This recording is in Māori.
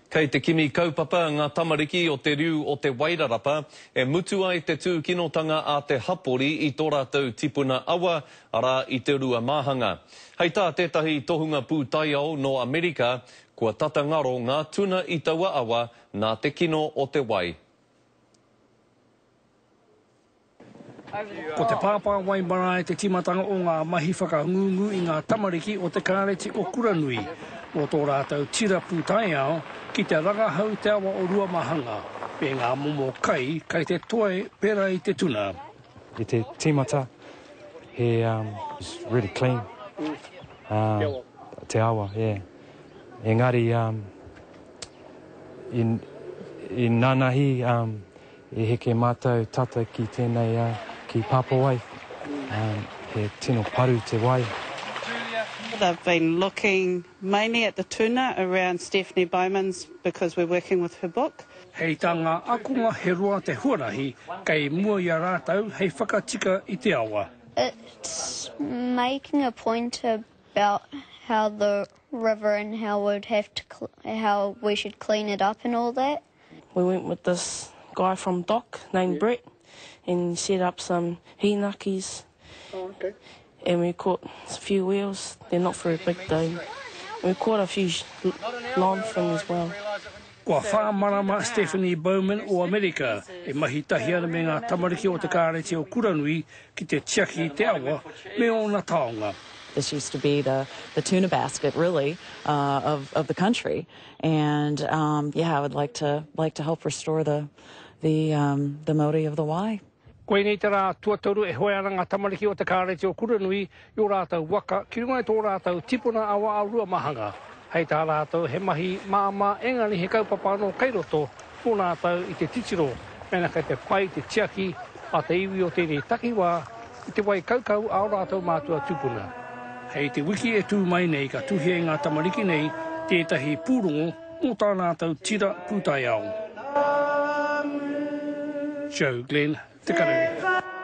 Kei te kimi kaupapa ngā tamariki o te riu o Te Wairarapa e mutu ai te tūkinotanga a te hapori i tō rātou tipuna awa, arā, i te rua māhanga. Hei tā tētahi tohunga pūtaiao nō Amerika, Kua tata ngaro ngā tuna i taua awa nā te kino o te wai. Ko te pāpā wai marae te tīmatanga o ngā mahi whakangungu i ngā tamariki o te Kāreti o Kuranui, mō tō rātou tira pūtaiao ki te rangahau te awa o Ruamahanga me ngā momo kai kai te toe pērā i te tuna. I te tīmata, he um, it's really clean. Uh, te awa, yeah. Engari, um, i, i nanahi, um, E heke matou tata ki tenei a, ki Papawai, he tino paru te wai. They've been looking mainly at the tuna around Stephanie Bowman's because we're working with her book. Hei tā ngā ākonga he roa te huarahi kei mua i a rātou hei whakatika i te awa. It's making a point about how the river and how we'd have to how we should clean it up and all that. We went with this guy from DOC named Brett and he set up some hīnakis and we caught a few whales, they're not very big though, we caught a few long fin as well. Kua whā marama Stephanie Bowman o Amerika e mahi tahi ana me ngā tamariki o te Kāreti o Kuranui ki te tiaki i te awa me ōna taonga. This used to be the tuna basket really of the country. and um, yeah, I would like to like to help restore the the um, the Maori of the Y. Koinei te rā tuatoru e hoe ana ngā tamariki o te kāreti o Kuranui i o rātou waka ki runga i tō rātou tipuna awa a Ruamahanga. Hei tā rātou he mahi māmā engari he kaupapa anō kei roto Ko rātou i te titiro mēnā kei te pai te tiaki a te iwi o tēnei takiwā i te wai kaukau a ō rātou mātua tūpuna. Hei te wiki e tū mai nei ka tuhia e ngā tamariki nei tētahi pūrongo mō tā rātou tira pūtaiao. Joe Glenn, Te Kararehe.